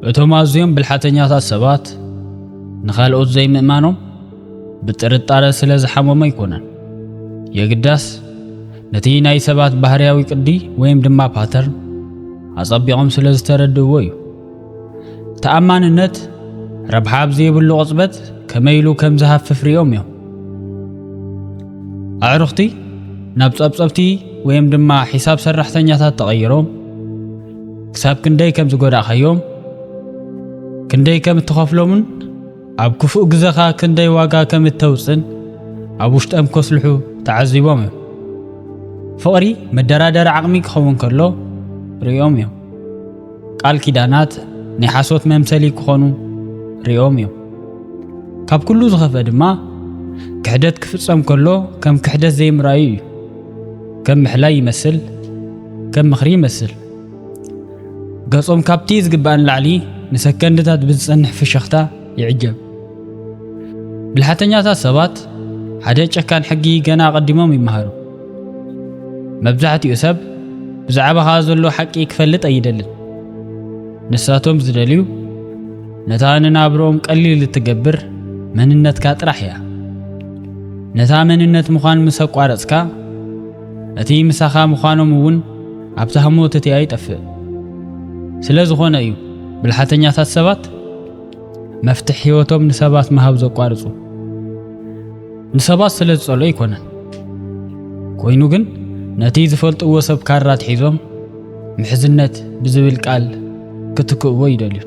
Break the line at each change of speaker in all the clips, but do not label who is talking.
እቶም ኣዝዮም ብልሓተኛታት ሰባት ንኻልኦት ዘይምእማኖም ብጥርጣረ ስለ ዝሓመሙ ኣይኮነን። የግዳስ ነቲ ናይ ሰባት ባህርያዊ ቅዲ ወይም ድማ ፓተርን ኣጸቢቖም ስለ ዝተረድእዎ እዩ። ተኣማንነት ረብሓ ኣብ ዘይብሉ ቅጽበት ከመይ ኢሉ ከም ዝሃፍፍ ርዮም እዮም ኣዕሩኽቲ ናብ ጸብጸብቲ ወይም ድማ ሒሳብ ሰራሕተኛታት ተቐይሮም ክሳብ ክንደይ ከም ዝጎዳእኻዮም ክንደይ ከም እትኸፍሎምን ኣብ ክፉእ ግዘኻ ክንደይ ዋጋ ከም እተውፅን ኣብ ውሽጠም ከስልሑ ተዓዚቦም እዮም ፍቕሪ መደራደሪ ዓቕሚ ክኸውን ከሎ ርእዮም እዮም ቃል ኪዳናት ናይ ሓሶት መምሰሊ ክኾኑ ርእዮም እዮም። ካብ ኩሉ ዝኸፈ ድማ ክሕደት ክፍጸም ከሎ ከም ክሕደት ዘይምርኣዩ እዩ። ከም ምሕላይ ይመስል፣ ከም ምኽሪ ይመስል። ገጾም ካብቲ ዝግባእ ንላዕሊ ንሰከንድታት ብዝጸንሕ ፍሽኽታ ይዕጀብ። ብልሓተኛታት ሰባት ሓደ ጨካን ሕጊ ገና ኣቐዲሞም ይመሃሩ። መብዛሕትኡ ሰብ ብዛዕባኻ ዘሎ ሓቂ ክፈልጥ ኣይደልን። ንሳቶም ዝደልዩ ነታ ንናብርኦም ቀሊል እትገብር መንነትካ ጥራሕ እያ። ነታ መንነት ምዃን ምስ ኣቋረጽካ እቲ ምሳኻ ምዃኖም እውን ኣብቲ ሃሞት እቲ ኣይጠፍእ። ስለ ዝኾነ እዩ ብልሓተኛታት ሰባት መፍትሕ ህይወቶም ንሰባት ምሃብ ዘቋርጹ። ንሰባት ስለ ዝጸልኦ ኣይኮነን። ኮይኑ ግን ነቲ ዝፈልጥዎ ሰብ ካራ ኣትሒዞም ምሕዝነት ብዝብል ቃል ክትክእዎ ይደልዩን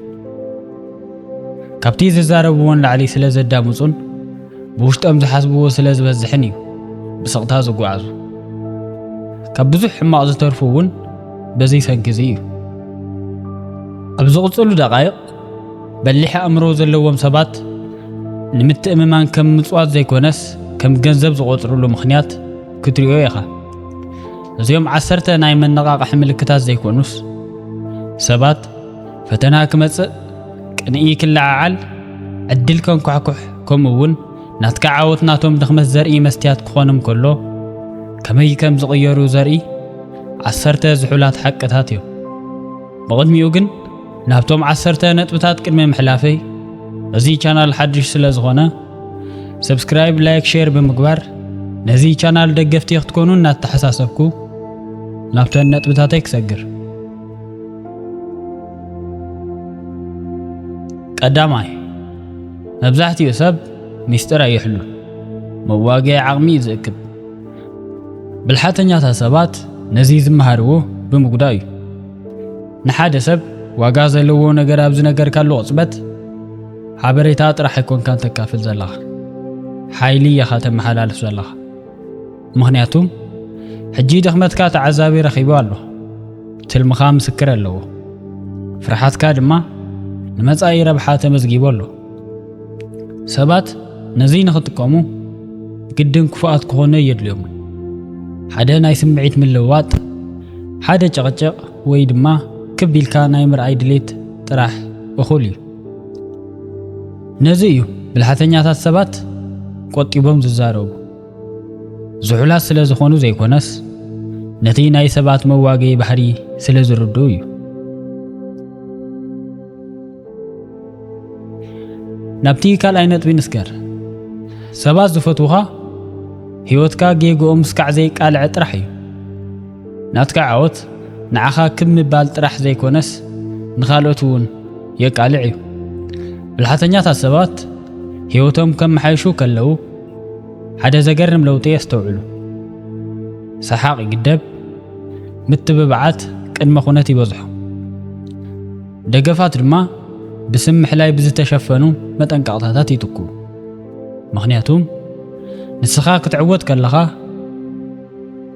ካብቲ ዝዛረብዎን ላዕሊ ስለ ዘዳምፁን ብውሽጦም ዝሓስብዎ ስለ ዝበዝሕን እዩ ብስቕታ ዝጓዓዙ ካብ ብዙሕ ሕማቕ ዝተርፉ እውን በዚ ሰንኪ እዚ እዩ ኣብ ዝቕፅሉ ደቃይቕ በሊሕ ኣእምሮ ዘለዎም ሰባት ንምትእምማን ከም ምጽዋት ዘይኮነስ ከም ገንዘብ ዝቖጽርሉ ምኽንያት ክትሪኦ ኢኻ። እዚኦም ዓሰርተ ናይ መነቓቕሒ ምልክታት ዘይኮኑስ ሰባት ፈተና ክመጽእ ቅንኢ ክለዓዓል ዕድል ከንኳሕኩሕ ከምኡ እውን ናትካ ዓወት ናቶም ድኽመት ዘርኢ መስትያት ክኾንም ከሎ ከመይ ከም ዝቕየሩ ዘርኢ ዓሰርተ ዝሑላት ሓቅታት እዮም ብቕድሚኡ ግን ናብቶም ዓሰርተ ነጥብታት ቅድሚ ምሕላፈይ እዚ ቻናል ሓድሽ ስለ ዝኾነ ሰብስክራይብ ላይክ ሼር ብምግባር ነዚ ቻናል ደገፍቲ ክትኮኑ እናተሓሳሰብኩ ናብተን ነጥብታተይ ክሰግር ቀዳማይ መብዛሕትኡ ሰብ ሚስጢር ኣይሕሉን መዋግዒ ዓቕሚ እዩ ዝእክብ ብልሓተኛታት ሰባት ነዚ ዝመሃርዎ ብምጉዳእ እዩ ንሓደ ሰብ ዋጋ ዘለዎ ነገር ኣብ ዝነገርካሉ ቅጽበት ሓበሬታ ጥራሕ ኣይኮንካን ተካፍል ዘለኻ ሓይሊ ኢኻ ተመሓላልፍ ዘለኻ ምክንያቱ ሕጂ ድኽመትካ ተዓዛቢ ረኺቡ ኣሎ ትልምኻ ምስክር ኣለዎ ፍርሓትካ ድማ ንመጻኢ ረብሓ ተመዝጊቡ ኣሎ ሰባት ነዚ ንኽጥቀሙ ግድን ክፉኣት ክኾኑ የድልዮም። ሓደ ናይ ስምዒት ምልውዋጥ፣ ሓደ ጨቕጨቕ ወይ ድማ ክብ ኢልካ ናይ ምርኣይ ድሌት ጥራሕ እኹል እዩ። ነዚ እዩ ብልሓተኛታት ሰባት ቆጢቦም ዝዛረቡ። ዝሑላት ስለ ዝኾኑ ዘይኮነስ ነቲ ናይ ሰባት መዋገዪ ባህሪ ስለ ዝርድኡ እዩ። ናብቲ ካልኣይ ነጥቢ ንስገር። ሰባት ዝፈትዉኻ ህይወትካ ጌግኦም ስካዕ ዘይቃልዐ ጥራሕ እዩ። ናትካ ዓወት ንዓኻ ክብ ምባል ጥራሕ ዘይኮነስ ንኻልኦት እውን የቃልዕ እዩ። ብልሓተኛታት ሰባት ህይወቶም ከመሓይሹ ከለዉ ሓደ ዘገርም ለውጢ የስተውዕሉ። ሰሓቕ ይግደብ፣ ምትብባዓት ቅድመ ኩነት ይበዝሖ። ደገፋት ድማ ብስም ምሕላይ ብዝተሸፈኑ መጠንቀቕታታት ይትኩ። ምኽንያቱም ንስኻ ክትዕወት ከለኻ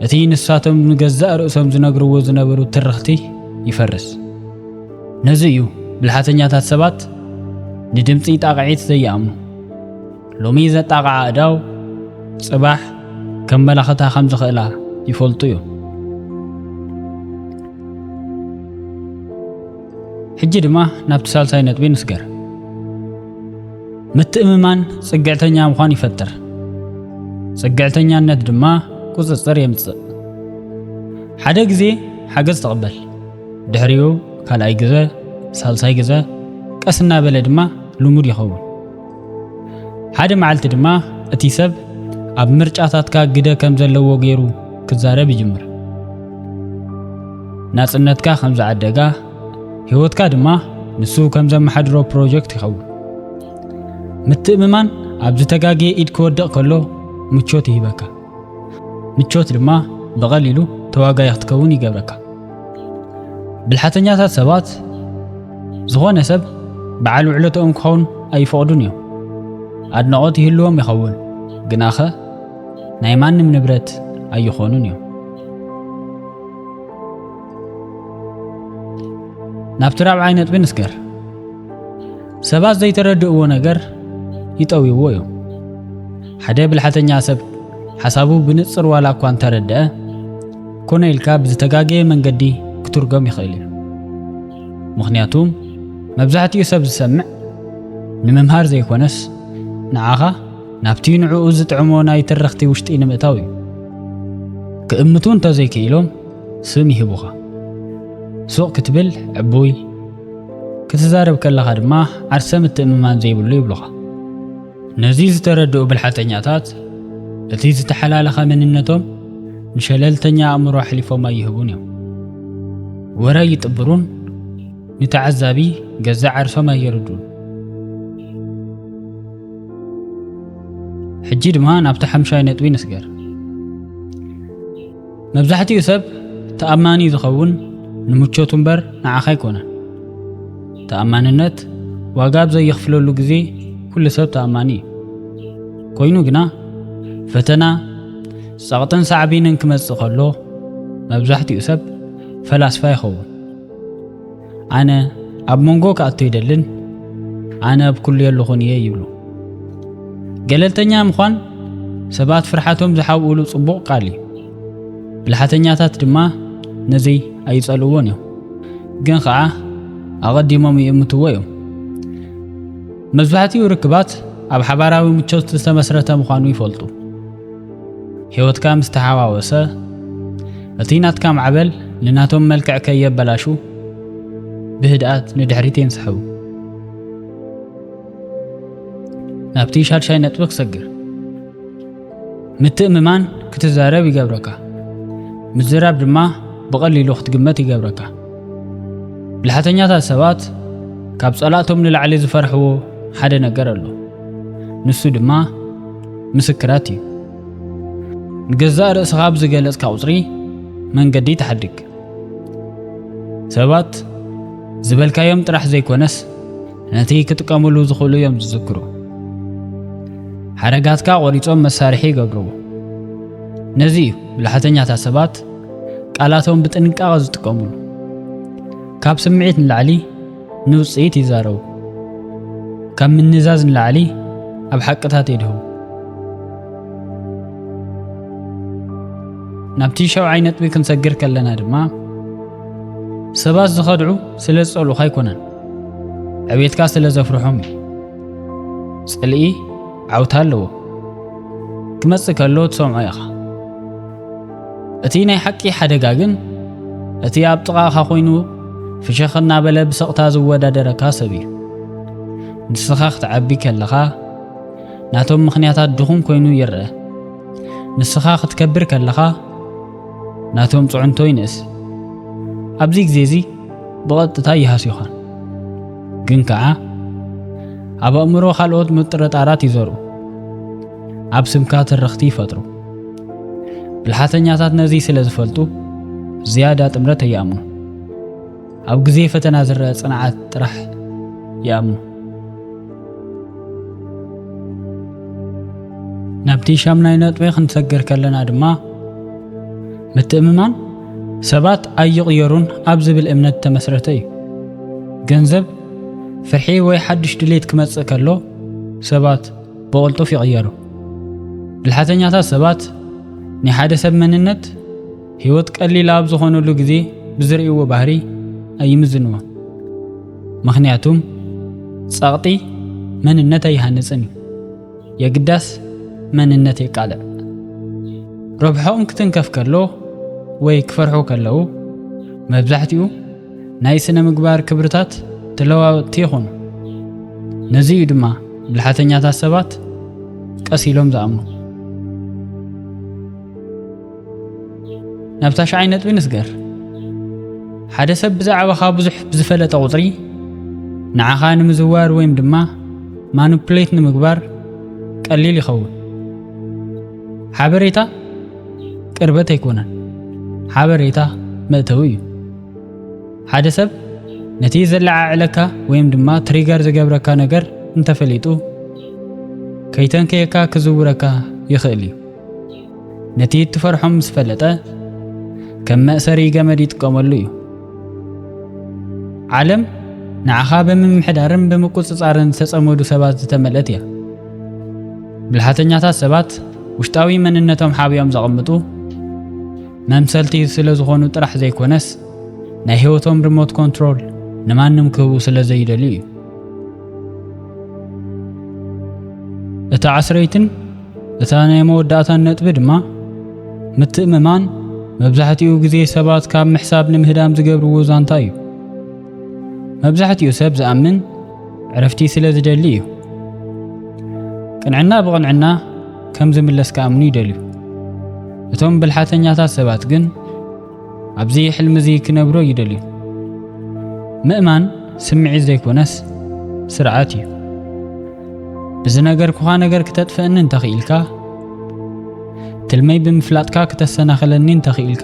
እቲ ንሳቶም ንገዛእ ርእሶም ዝነግርዎ ዝነበሩ ትርኽቲ ይፈርስ። ነዚ እዩ ብልሓተኛታት ሰባት ንድምጺ ጣቕዒት ዘይኣምኑ። ሎሚ ዘጣቕዓ ኣእዳው ጽባሕ ከመላኽታ ከም ዝኽእላ ይፈልጡ እዮም። ሕጂ ድማ ናብቲ ሳልሳይ ነጥቢ ንስገር። ምትእምማን ጽግዕተኛ ምዃን ይፈጥር፣ ጽግዕተኛነት ድማ ቁጽጽር የምጽእ። ሓደ ግዜ ሓገዝ ተቐበል፣ ድሕሪኡ ካልኣይ ግዘ፣ ሳልሳይ ግዘ፣ ቀስ እናበለ ድማ ልሙድ ይኸውን። ሓደ መዓልቲ ድማ እቲ ሰብ ኣብ ምርጫታትካ ግደ ከም ዘለዎ ገይሩ ክዛረብ ይጅምር። ናጽነትካ ከም ዝዓደጋ፣ ህይወትካ ድማ ንሱ ከም ዘመሓድሮ ፕሮጀክት ይኸውን። ምትእምማን ኣብ ዝተጋገየ ኢድ ክወድቕ ከሎ ምቾት ይህበካ። ምቾት ድማ ብቐሊሉ ተዋጋይ ክትከውን ይገብረካ። ብልሓተኛታት ሰባት ዝኾነ ሰብ በዓል ውዕለትኦም ክኸውን ኣይፈቕዱን እዮም። ኣድናቖት ይህልዎም ይኸውን፣ ግናኸ ናይ ማንም ንብረት ኣይኾኑን እዮም። ናብቲ ራብዓይ ነጥቢ ንስገር። ሰባት ዘይተረድእዎ ነገር ይጠውይዎ እዮም። ሓደ ብልሓተኛ ሰብ ሓሳቡ ብንጽር ዋላ እኳ እንተረድአ ኮነ ኢልካ ብዝተጋገየ መንገዲ ክትርጎም ይኽእል እዩ። ምኽንያቱም መብዛሕትኡ ሰብ ዝሰምዕ ንምምሃር ዘይኮነስ ንዓኻ ናብቲ ንዕኡ ዝጥዕሞ ናይ ትርኽቲ ውሽጢ ንምእታው እዩ። ክእምቱ እንተዘይክኢሎም ስም ይህቡኻ። ሱቕ ክትብል ዕቡይ ክትዛረብ ከለኻ ድማ ዓርሰ ምትእምማን ዘይብሉ ይብሉኻ። ነዚ ዝተረድኡ ብልሓተኛታት እቲ ዝተሓላለኸ መንነቶም ንሸለልተኛ ኣእምሮ ኣሕሊፎም ኣይህቡን እዮም። ወረ ኣይጥብሩን፣ ንተዓዛቢ ገዛእ ዓርሶም ኣየርዱን። ሕጂ ድማ ናብቲ ሓምሻይ ነጥቢ ንስገር። መብዛሕትኡ ሰብ ተኣማኒ ዝኸውን ንምቾቱ እምበር ንዓኻ ኣይኮነን። ተኣማንነት ዋጋ ኣብ ዘየኽፍለሉ ግዜ ኩሉ ሰብ ተኣማኒ እዩ። ኮይኑ ግና ፈተና ጸቕጥን ሳዕቤንን ክመጽእ ከሎ መብዛሕትኡ ሰብ ፈላስፋ ይኸውን። ኣነ ኣብ መንጎ ክኣቱ ይደልን ኣነ ኣብ ኩሉ የለኹን እየ ይብሉ ገለልተኛ ምዃን ሰባት ፍርሓቶም ዝሓብኡሉ ጽቡቕ ቃል እዩ ብልሓተኛታት ድማ ነዚ ኣይጸልዎን እዮም ግን ኸዓ ኣቐዲሞም ይእምትዎ እዮም መብዛሕትኡ ርክባት ኣብ ሓባራዊ ምቾት ዝተመስረተ ምዃኑ ይፈልጡ ሕይወትካ ምስ ተሓዋወሰ፣ እቲ ናትካ ማዕበል ንናቶም መልክዕ ከየበላሹ ብህድኣት ንድሕሪት የንስሕቡ። ናብቲ ሻድሻይ ነጥቢ ክሰግር ምትእምማን ክትዛረብ ይገብረካ። ምዝራብ ድማ ብቐሊሉ ክትግመት ይገብረካ። ብልሓተኛታት ሰባት ካብ ጸላእቶም ንላዕሊ ዝፈርሕዎ ሓደ ነገር ኣሎ። ንሱ ድማ ምስክራት እዩ። ንገዛእ ርእስኻ ኣብ ዝገለጽካ ቁጽሪ መንገዲ ተሓድግ። ሰባት ዝበልካዮም ጥራሕ ዘይኮነስ ነቲ ክጥቀምሉ ዝኽእሉ እዮም ዝዝክሩ። ሓረጋትካ ቆሪጾም መሳርሒ ይገብርዎ። ነዚ እዩ ብልሓተኛታት ሰባት ቃላቶም ብጥንቃቐ ዝጥቀምሉ። ካብ ስምዒት ንላዕሊ ንውጽኢት ይዛረቡ። ካብ ምንዛዝ ንላዕሊ ኣብ ሓቅታት የድህቡ። ናብቲ ሻውዓይ ነጥቢ ክንሰግር ከለና ድማ ሰባት ዝኸድዑ ስለ ዝጸልኡኻ ኣይኮነን፣ ዕብየትካ ስለ ዘፍርሖም እዩ። ጽልኢ ዓውታ ኣለዎ። ክመጽእ ከሎ ትሰምዖ ኢኻ። እቲ ናይ ሓቂ ሓደጋ ግን እቲ ኣብ ጥቓኻ ኮይኑ ፍሸኽ እናበለ ብሰቕታ ዝወዳደረካ ሰብ እዩ። ንስኻ ክትዓቢ ከለኻ ናቶም ምኽንያታት ድኹም ኮይኑ ይረአ። ንስኻ ክትከብር ከለኻ ናቶም ጽዕንቶ ይንእስ። ኣብዚ ግዜ እዚ ብቐጥታ ይሃስዩኻን ግን ከኣ ኣብ ኣእምሮ ካልኦት ምጥርጣራት ይዘርኡ፣ ኣብ ስምካ ትርኽቲ ይፈጥሩ። ብልሓተኛታት ነዚ ስለ ዝፈልጡ ዝያዳ ጥምረት ኣይኣምኑ። ኣብ ግዜ ፈተና ዝረአ ጽንዓት ጥራሕ ይኣምኑ። ናብቲ ሻምናይ ነጥቢ ክንሰግር ከለና ድማ ምትእምማን ሰባት ኣይቕየሩን ኣብ ዝብል እምነት ተመስረተ እዩ። ገንዘብ፣ ፍርሒ ወይ ሓድሽ ድሌት ክመጽእ ከሎ ሰባት ብቕልጡፍ ይቕየሩ። ብልሓተኛታት ሰባት ናይ ሓደ ሰብ መንነት ህይወት ቀሊል ኣብ ዝኾነሉ ግዜ ብዝርእይዎ ባህሪ ኣይምዝንዎ። ምኽንያቱም ጸቕጢ መንነት ኣይሃንጽን እዩ፣ የግዳስ መንነት የቃልዕ። ረብሖኦም ክትንከፍ ከሎ ወይ ክፈርሑ ከለዉ መብዛሕትኡ ናይ ስነ-ምግባር ክብርታት ተለዋወጥቲ ይኹኑ። ነዚ እዩ ድማ ብልሓተኛታት ሰባት ቀስ ኢሎም ዝኣምኑ። ናብ ታሽዓይ ነጥቢ ንስገር። ሓደ ሰብ ብዛዕባኻ ብዙሕ ብዝፈለጠ ቁጽሪ ንዓኻ ንምዝዋር ወይም ድማ ማኑፕሌት ንምግባር ቀሊል ይኸውን። ሓበሬታ ቅርበት ኣይኮነን፣ ሓበሬታ መእተዊ እዩ። ሓደ ሰብ ነቲ ዘለዓዕለካ ወይም ድማ ትሪገር ዝገብረካ ነገር እንተፈሊጡ ከይተንከየካ ክዝውረካ ይኽእል እዩ። ነቲ እትፈርሖ ምስ ፈለጠ ከም መእሰሪ ገመድ ይጥቀመሉ እዩ። ዓለም ንዓኻ ብምምሕዳርን ብምቁጽጻርን ዝተጸመዱ ሰባት ዝተመልአት እያ። ብልሓተኛታት ሰባት ውሽጣዊ መንነቶም ሓቢኦም ዘቐምጡ መምሰልቲ ስለ ዝኾኑ ጥራሕ ዘይኮነስ ናይ ህይወቶም ሪሞት ኮንትሮል ንማንም ክህቡ ስለ ዘይደልዩ እዩ። እታ ዓስረይትን እታ ናይ መወዳእታን ነጥቢ ድማ ምትእምማን መብዛሕትኡ ግዜ ሰባት ካብ ምሕሳብ ንምህዳም ዝገብርዎ ዛንታ እዩ። መብዛሕትኡ ሰብ ዝኣምን ዕረፍቲ ስለ ዝደሊ እዩ። ቅንዕና ብቕንዕና ከም ዝምለስ ክኣምኑ ይደልዩ። እቶም ብልሓተኛታት ሰባት ግን ኣብዚ ሕልሚ እዚ ክነብሮ ይደልዩ። ምእማን ስምዒት ዘይኮነስ ስርዓት እዩ። ብዝነገርኩኻ ነገር ክተጥፍእኒ እንተኽኢልካ፣ ትልመይ ብምፍላጥካ ክተሰናኽለኒ እንተኽኢልካ፣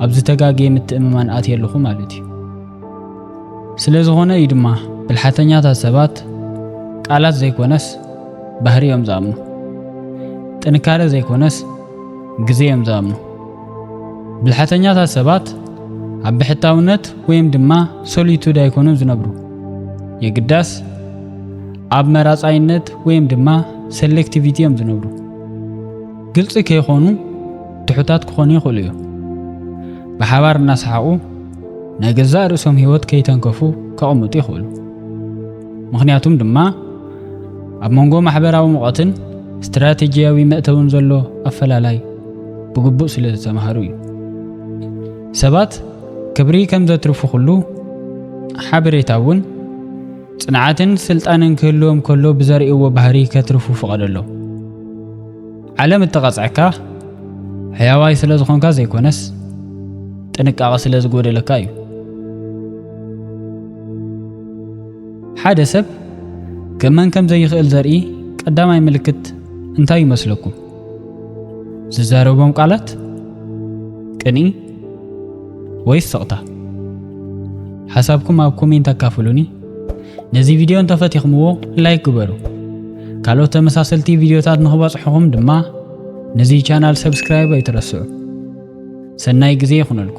ኣብዚ ተጋግየ ምትእምማን ኣትየ ኣለኹ ማለት እዩ። ስለ ዝኾነ እዩ ድማ ብልሓተኛታት ሰባት ቃላት ዘይኮነስ ባህሪ እዮም ዝኣምኑ። ጥንካረ ዘይኮነስ ግዜ እዮም ዝኣምኑ። ብልሓተኛታት ሰባት ኣብ ብሕታውነት ወይም ድማ ሶሊቱድ ኣይኮኑን ዝነብሩ። የግዳስ ኣብ መራፃይነት ወይም ድማ ሴሌክቲቪቲ እዮም ዝነብሩ። ግልፂ ከይኾኑ ትሑታት ክኾኑ ይኽእሉ እዮም። ብሓባር እናሰሓቑ ናይ ገዛእ ርእሶም ህይወት ከይተንከፉ ከቕምጡ ይኽእሉ። ምኽንያቱም ድማ ኣብ መንጎ ማሕበራዊ ሙቐትን ስትራቴጂያዊ መእተውን ዘሎ ኣፈላላይ ብግቡእ ስለ ዝተማሃሩ እዩ። ሰባት ክብሪ ከም ዘትርፉ ኩሉ ሓበሬታ እውን ጽንዓትን ስልጣንን ክህልዎም ከሎ ብዘርእይዎ ባህሪ ከትርፉ ፍቐደሎም። ዓለም እተቐጽዐካ ሕያዋይ ስለ ዝኾንካ ዘይኮነስ ጥንቃቐ ስለ ዝጎደለካ እዩ። ሓደ ሰብ ክእመን ከም ዘይኽእል ዘርኢ ቀዳማይ ምልክት እንታይ ይመስለኩም? ዝዛረቦም ቃላት፣ ቅንኢ ወይስ ስቕታ? ሓሳብኩም ኣብ ኮሜንት ኣካፍሉኒ። ነዚ ቪድዮ እንተፈቲኽምዎ ላይክ ግበሩ። ካልኦት ተመሳሰልቲ ቪድዮታት ንኽበጽሑኹም ድማ ነዚ ቻናል ሰብስክራይብ ኣይትረስዑ። ሰናይ ግዜ ይኹነልኩ።